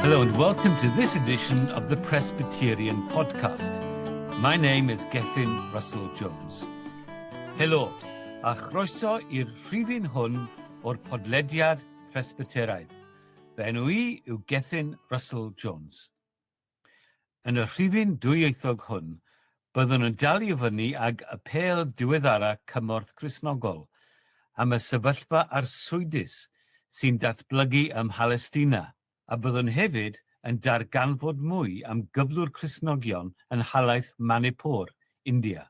Hello and welcome to this edition of the Presbyterian Podcast. My name is Gethin Russell Jones. Helo, a chroeso i'r rhifyn hwn o'r podlediad Presbyteraidd. Fy enw i yw Gethin Russell Jones. Yn y rhifyn dwyieithog hwn, byddwn yn dal i fyny ag apêl diweddara Cymorth Cristnogol am y sefyllfa arswydus sy'n datblygu ym Mhalestina, a byddwn hefyd yn darganfod mwy am gyflwr Cristnogion yn nhalaith Manipur, India.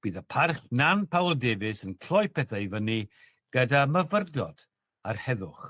Bydd y Parchg Nan Powell Davies yn cloi pethau i fyny gyda myfyrdod ar heddwch.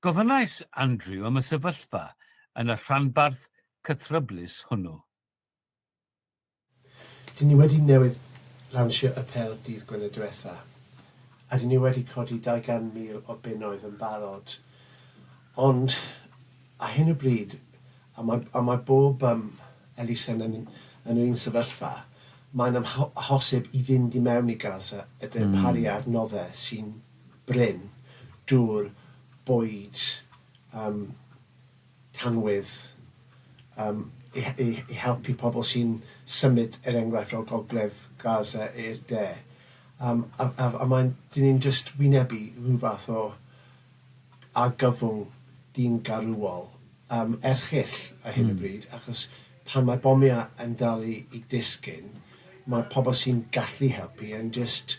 Gofynnais Andrew am y sefyllfa yn y rhanbarth cythryblus hwnnw. Dyn ni wedi newydd lawnsio Apêl dydd Gwener diwetha, a dyn ni wedi codi 200,000 o bunnoedd yn barod, ond ar hyn o bryd, a mae, a mae bob yym elusen yn, yn yr un sefyllfa, mae'n amho- hosib i fynd i mewn i Gaza, y darparu adnoddau sy'n, brin, dŵr, bwyd, yym, tanwydd, yym, i i i helpu pobl sy'n symud, er enghraifft, o gogledd Gaza i'r de. Yym, a a a mae'n... dyn ni'n jyst wynebu rhyw fath o argyfwng diymgaruol, yym, erchyll ar hyn o bryd, achos pan mae bomiau yn dal i i disgyn, mae pobl sy'n gallu helpu yn jyst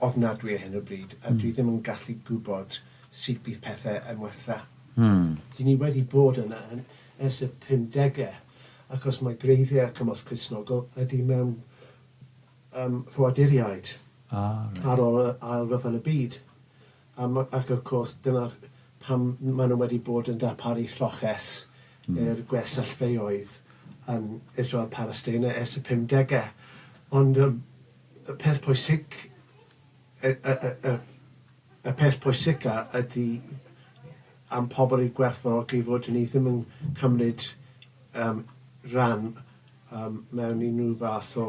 ofnadwy ar hyn o bryd, a dwi ddim yn gallu gwybod sut bydd pethe yn wella. Dyn ni wedi bod yna ers y pumdege, ac os mae gwreiddiau a cymorth Cristnogol ydi mewn ffoaduriaid ar ôl yr Ail Ryfel y Byd, Am, ac wrth gwrs, dyna pam maen nhw wedi bod yn darparu lloches i'r gwersyllfeydd yn Israel a Phalesteina ers y pumdegau. Ond y peth pwysig, y y y y y peth pwysica ydy am pobl eu gwerthfawrogi fod hynny ddim yn cymryd yym rhan yym mewn unrhyw fath o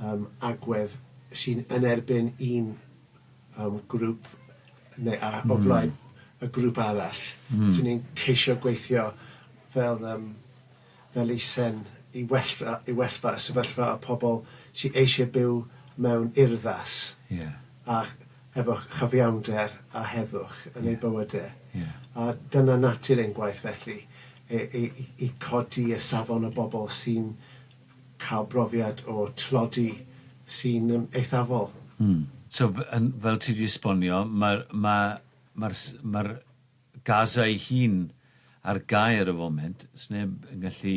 yym agwedd sy'n yn erbyn un yym grŵp neu a- o flaen y grŵp arall. So ni'n ceisio gweithio fel yym fel eisen i well fy- i well fy sefyllfa y pobl sy eisiau byw mewn urddas a efo chyfiawnder a heddwch yn eu bywydau. A dyna natur ein gwaith felly, i i i codi y safon y bobl sy'n cael brofiad o tlodi sy'n yym eithafol. Mm. So f- yn fel ti 'di esbonio ma'r ma' ma'r s- ma'r Gaza ei hun ar gau ar y foment, sneb yn gallu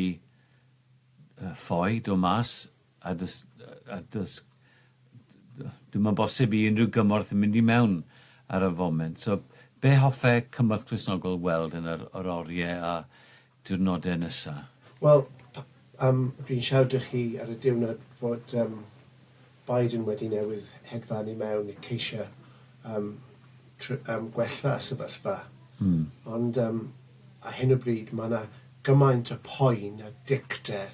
yy ffoi, do' mas a do's yy a do's d- yy dyw 'im yn bosib i unrhyw gymorth mynd i mewn ar y foment. So be' hoffe cymorth Cristnogol weld yn yr yr orie a diwrnodau nesa? Wel, yym, dwi'n siarad â chi ar y diwrnod fod yym Biden wedi newydd hedfan i mewn i ceisio yym tr- yym gwella y sefyllfa. Mm. Ond yym ar hyn o bryd mae 'na gymaint o poen a dicter...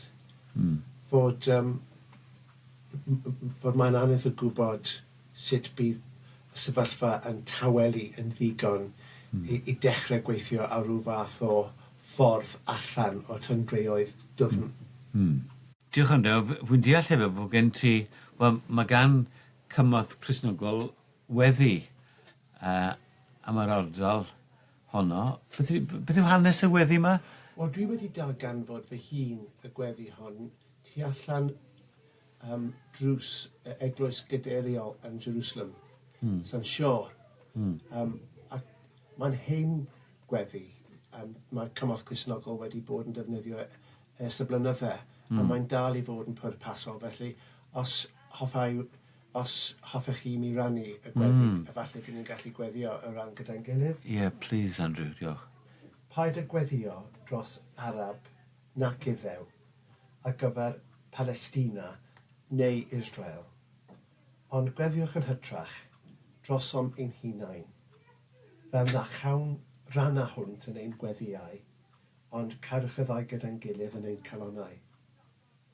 Mm. ...fod yym m- m- m- fod mae'n anodd o gwybod sut bydd y sefyllfa yn tawelu yn ddigon i dechrau gweithio ar ryw fath o ffordd allan o'r tyngdreoedd dwfn. Diolch am hynny. Wel, fi'n deall hefyd fod gen ti... wel, mae gan cymorth Cristnogol weddi am yr ardal honno. Beth yw hanes y weddi yma? Wel, dwi wedi darganfod fy hun y gweddi hon tu allan am drws y eglwys gadeiriol yn Jerusalem. Mm. Sa'n siwr. Mm. Um, a mae'n hen gweddi. Um, mae cymorth Crisnogol wedi bod yn defnyddio e ers y blynydde, mm. a hmm. mae'n dal i fod yn pwrpasol. Felly, os hoffai os hoffech chi mi rannu y gweddi, mm. efallai dyn ni'n gallu gweddio y ran gyda'n gilydd. Ie, yeah, please, Andrew, diolch. Paid â gweddio dros Arab nac iddew, ar gyfer Palestina neu Israel, ond gweddiwch yn hytrach drosom ein hunain, fel na chawn ran â hwnt yn ein gweddïau, ond cadwch y ddau gyda'n gilydd yn ein calonnau.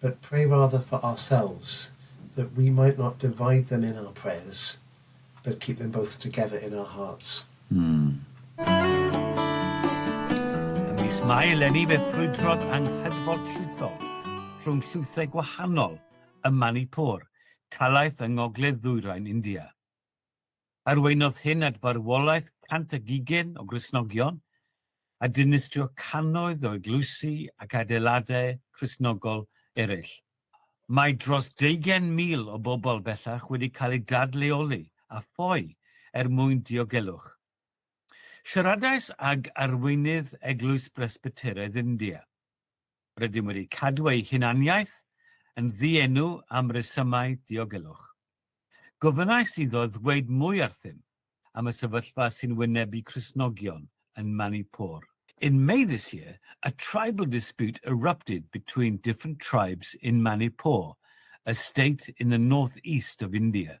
but pray rather for ourselves, that we might not divide them in our prayers, but keep them both together in our hearts. Ym mis Mai eleni fe ffrwydrodd anghydfod llwythol rhwng llwythau gwahanol ym Manipur, talaith yng ngogledd-ddwyrain India. Arweiniodd hyn at farwolaeth cant ag ugain o Gristnogion, a dinistrio cannoedd o eglwysi ac adeiladau Cristnogol eraill. Mae dros deugain mil o bobl bellach wedi cael eu dadleoli a ffoi er mwyn diogelwch. Siaradais ag arweinydd Eglwys Bresbyteraidd India. Rydym wedi cadw ei hunaniaeth yn ddienw am resymau diogelwch. Gofynnais iddo ddweud mwy wrthym am y sefyllfa sy'n wynebu Cristnogion yn Manipur. In May this year, a tribal dispute erupted between different tribes in Manipur, a state in the north-east of India.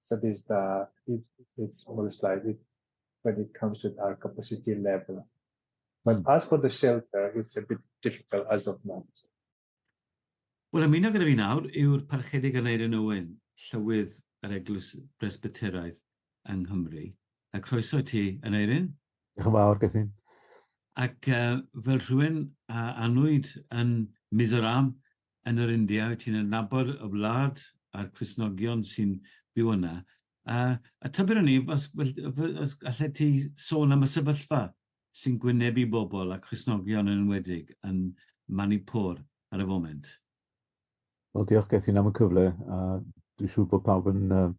So this the it, it's almost like it when it comes to our capacity level. But mm. as for the shelter, it's a bit difficult as of now. Wel, ymuno gyda fi nawr yw'r parchedig Aneirin Owen, llywydd yr Eglwys Bresbyteraidd yng Nghymru. A croeso i ti, Aneirin. Diolch yn fawr, Gethin. Ac uh, fel rhywun a anwyd yn Mizoram, yn yr India, wyt ti'n adnabod y wlad a'r Cristnogion sy'n byw yna, a, a tybed o'n i, os, os allet ti sôn am y sefyllfa sy'n gwynebu bobl a Cristnogion yn enwedig yn Manipur ar y foment? Wel, diolch Gethin am y cyfle, a dwi'n siŵr bod pawb yn um,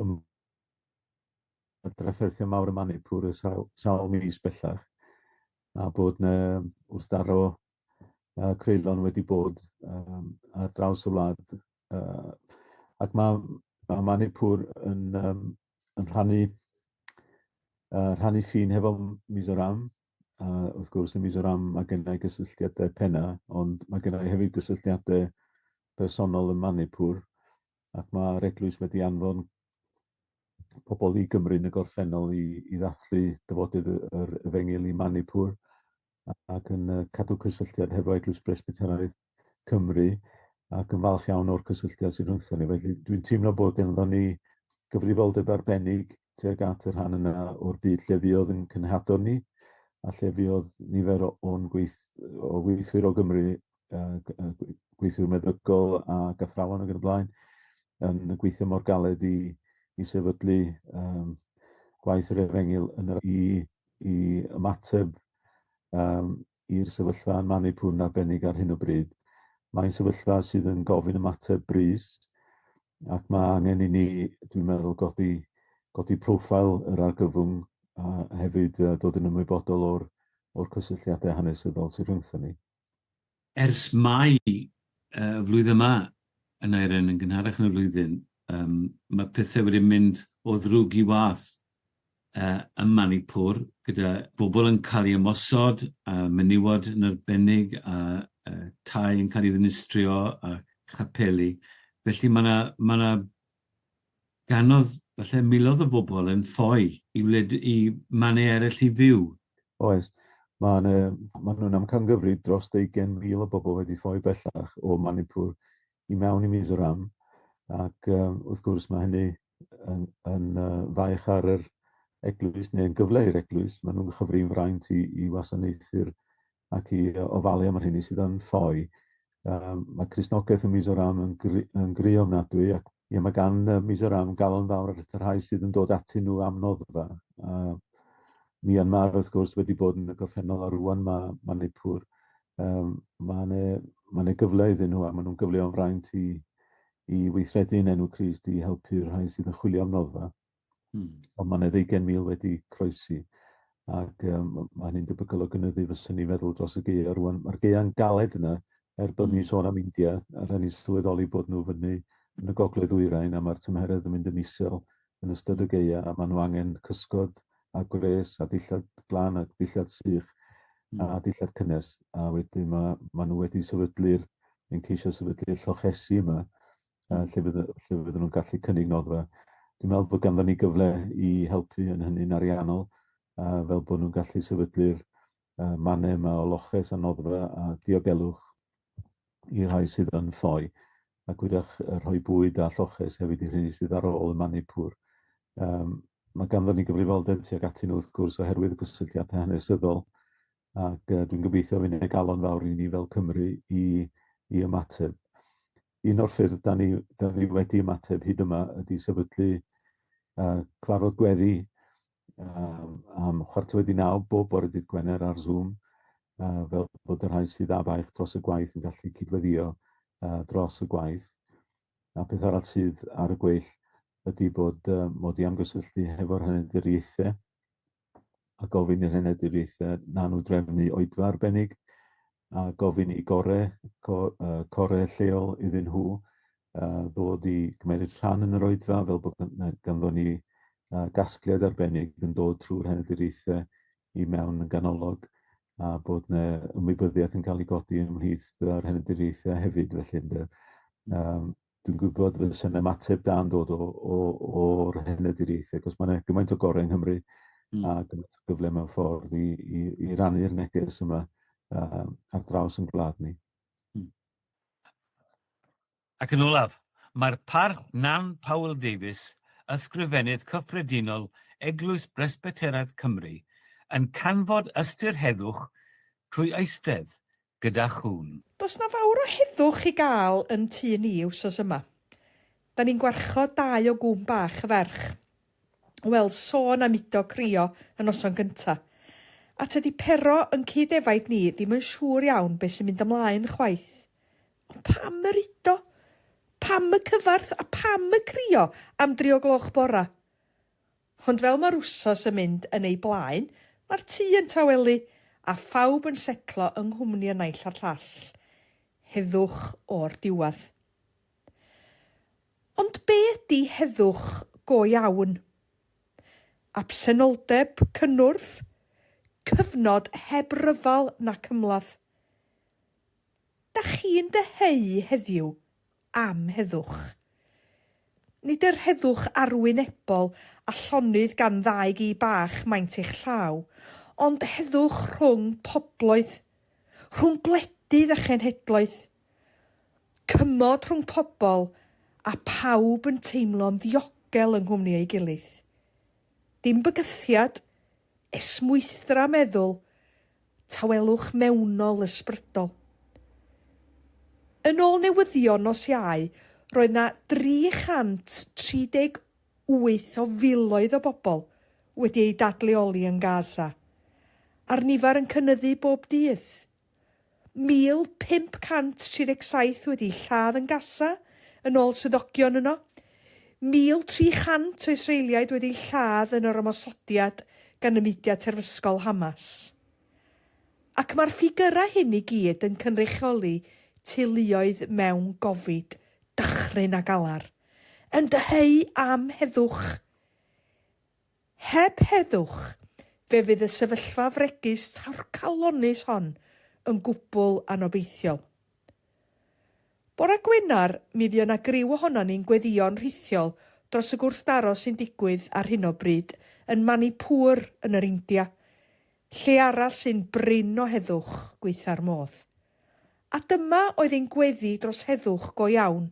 um, drafferthio mawr y Manipur y sawl, sawl mis bellach, a bod yna wrthdaro uh, creulon wedi bod um, ar draws y wlad. Uh, ac mae, mae Manipur yn, um, yn rhannu, uh, rhannu ffin hefo Mizoram, a wrth gwrs yn Mizoram mae gennau gysylltiadau penna, ond mae gennau hefyd gysylltiadau personol yn Manipur, ac mae'r eglwys wedi anfon pobl i Gymru yn y gorffennol i, i ddathlu dyfodydd yr efengyl i Manipur, ac yn yy cadw cysylltiad hefo Eglwys Presbyteraidd Cymru ac yn falch iawn o'r cysylltiad sydd rhwngthon ni. Felly dwi'n teimlo bod ganddo ni gyfrifoldeb arbennig tuag at y rhan yna o'r byd lle fuodd yn cynhadon ni a lle fuodd nifer o'n gweith, o weithwyr o Gymru, uh, gweithwyr meddygol a gathrawon ac yn y blaen, yn gweithio mor galed i, i sefydlu um, gwaith yr efengyl yn yr i i ymateb yym i'r sefyllfa yn man ei pŵn arbennig ar hyn o bryd. Mae'n sefyllfa sydd yn gofyn ymateb brys ac mae angen i ni, dwi'n meddwl, godi godi profile yr argyfwng a hefyd uh, dod yn ymwybodol o'r o'r cysylltiadau hanesyddol sydd rhwngthon ni. Ers Mai y flwyddyn yma, y naeren yn gynharach yn y flwyddyn, yym mae pethe wedi mynd o ddrwg i wath yy ym Manipur, gyda bobl yn cael ei ymosod, a menywod yn arbennig, a yy tai yn cael ei ddinistrio, a chapeli. Felly mae 'na mae 'na Ganodd, falle, miloedd o bobl yn ffoi i wled i mannau eraill i fyw. Oes. Mae yna, maen nhw'n amcangyfrif dros 20,000 o bobl wedi ffoi bellach o Manipur i mewn i Mizoram, ac um, wrth gwrs mae hynny yn, yn uh, faich ar yr eglwys, neu'n gyfle i'r eglwys, maen nhw'n chyfrin fraint i, i wasanaethu'r ac i ofalu am y rheini sydd yn ffoi. Um, mae Crisnogaeth yn Mizoram yn, gri, yn gri ofnadwy ac ia, mae gan uh, Mizoram galon fawr ar y rhai sydd yn dod atyn nhw am noddfa. Uh, Myanmar wrth gwrs wedi bod yn y gorffennol a rwan mae, mae Nipur. Um, mae yna ma ne gyfle iddyn nhw a maen nhw'n gyfleo'n fraint i, i weithredu yn enw Crist i helpu'r rhai sydd yn chwilio am noddfa. Hmm. Ond mae'n edrych gen mil wedi croesi. Ac um, mae'n un debygol o gynyddu fy syni feddwl dros y geia. Rwan, mae'r geia'n galed yna, er bod ni'n hmm. sôn am India, a rhaid ni sylweddoli bod nhw fyny yn y gogledd wyrain, a mae'r tymheredd yn mynd yn isel yn ystod y hmm. geia, a maen nhw angen cysgod a gwres a dillad glan a dillad sych mm. a dillad cynnes. A wedyn mae, mae nhw wedi sefydlu'r, yn ceisio sefydlu'r llochesi yma, uh, lle, fydden, lle fydden nhw'n gallu cynnig noddfa. Dwi'n meddwl bod ganddyn ni gyfle i helpu yn hynny'n ariannol, a fel bod nhw'n gallu sefydlu'r uh, mannau yma o loches a noddfa a diogelwch i rhai sydd yn ffoi, a gwydach rhoi bwyd a lloches hefyd i rhywun sydd ar ôl y mannu pŵr. Um, mae ganddyn ni gyfrifoldeb tuag atyn nhw wrth gwrs oherwydd y gysylltiadau hanesyddol ac uh, dwi'n gobeithio fy'n ei galon fawr i ni fel Cymru i, i ymateb. Un o'r ffyrdd da ni, da ni wedi ymateb hyd yma ydy sefydlu uh, cyfarfod gweddi um, am chwarter wedi naw bob bore dydd Gwener ar Zoom, uh, fel bod y rhai sydd a baich dros y gwaith yn gallu cydweddio uh, dros y gwaith. A peth arall sydd ar y gweill ydy bod uh, mod i am gysylltu hefo'r hynny'n diriaethau a gofyn i'r Heneb Difreithiau nanw-drefnu oedfa arbennig, a gofyn i gore, co, uh, core lleol iddyn nhw uh, ddod i gymeryd rhan yn yr oedfa fel bod ganddo ni uh, gasgliad arbennig yn dod trwy'r Heneb Difreithiau i mewn yn ganolog a bod yna ymwybyddiaeth yn cael ei godi ymhlith yr Heneb Difreithiau hefyd felly ynde. Um, dwi'n gwybod fysa'n ymateb da'n dod o, o, o'r hened i'r ieithoedd, achos mae yna gymaint o gorau yng Nghymru mm. a gymaint o gyfle mewn ffordd i, i, i rannu'r neges yma uh, ar draws yn gwlad ni. Mm. Ac yn olaf, mae'r parch Nan Powell Davies, ysgrifennydd cyffredinol Eglwys Bresbyteraidd Cymru, yn canfod ystyr heddwch trwy eistedd gyda chŵn. Does 'na fawr o heddwch i gael yn tŷ ni wsos yma. 'Da ni'n gwarchod dau o gŵn bach y ferch. Wel, sôn am udo crio y noson gynta'. A tydi Pero yn cyd-efaid ni ddim yn siŵr iawn be' sy'n mynd ymlaen chwaith. Ond pam yr udo? Pam y cyfarth a pham y crio am dri o gloch bora? Ond fel mae'r wsos yn mynd yn ei blaen, mae'r tŷ yn tawelu a phawb yn setlo yng nghwmni y naill a'r llall. Heddwch o'r diwedd. Ond be ydy heddwch go iawn? Absenoldeb cynnwrf? Cyfnod heb ryfel nac ymladd? Dach chi'n dyheu heddiw am heddwch. Nid yr heddwch arwynebol a llonydd gan ddau gi bach maent eich llaw, ond heddwch rhwng pobloedd, rhwng gwledydd a chenhedloedd. Cymod rhwng pobl a phawb yn teimlo'n ddiogel yng nghwmni ei gilydd. Dim bygythiad, Esmwythra meddwl, tawelwch mewnol ysbrydol. Yn ôl newyddion nos Iau, roedd 'na 338 o filoedd o bobl wedi eu dadleoli yn Gaza, a'r nifer yn cynyddu bob dydd. 1,537 wedi'u lladd yn Gaza, yn ôl swyddogion yno. 1,300 o Israeliaid wedi'u lladd yn yr ymosodiad gan y mudiad terfysgol Hamas. Ac mae'r ffigyrau hyn i gyd yn cynrychioli teuluoedd mewn gofid, dychryn a galar, yn dyheu am heddwch. Heb heddwch, fe fydd y sefyllfa fregus torcalonnus hon yn gwbl anobeithiol. Bore Gwener, mi fuo 'na griw ohonon ni'n gweddïo'n rhithiol dros y gwrthdaro sy'n digwydd ar hyn o bryd yn Manipur yn yr India, lle arall sy'n brin o heddwch gwaetha'r modd. A dyma oedd ein gweddi dros heddwch go iawn.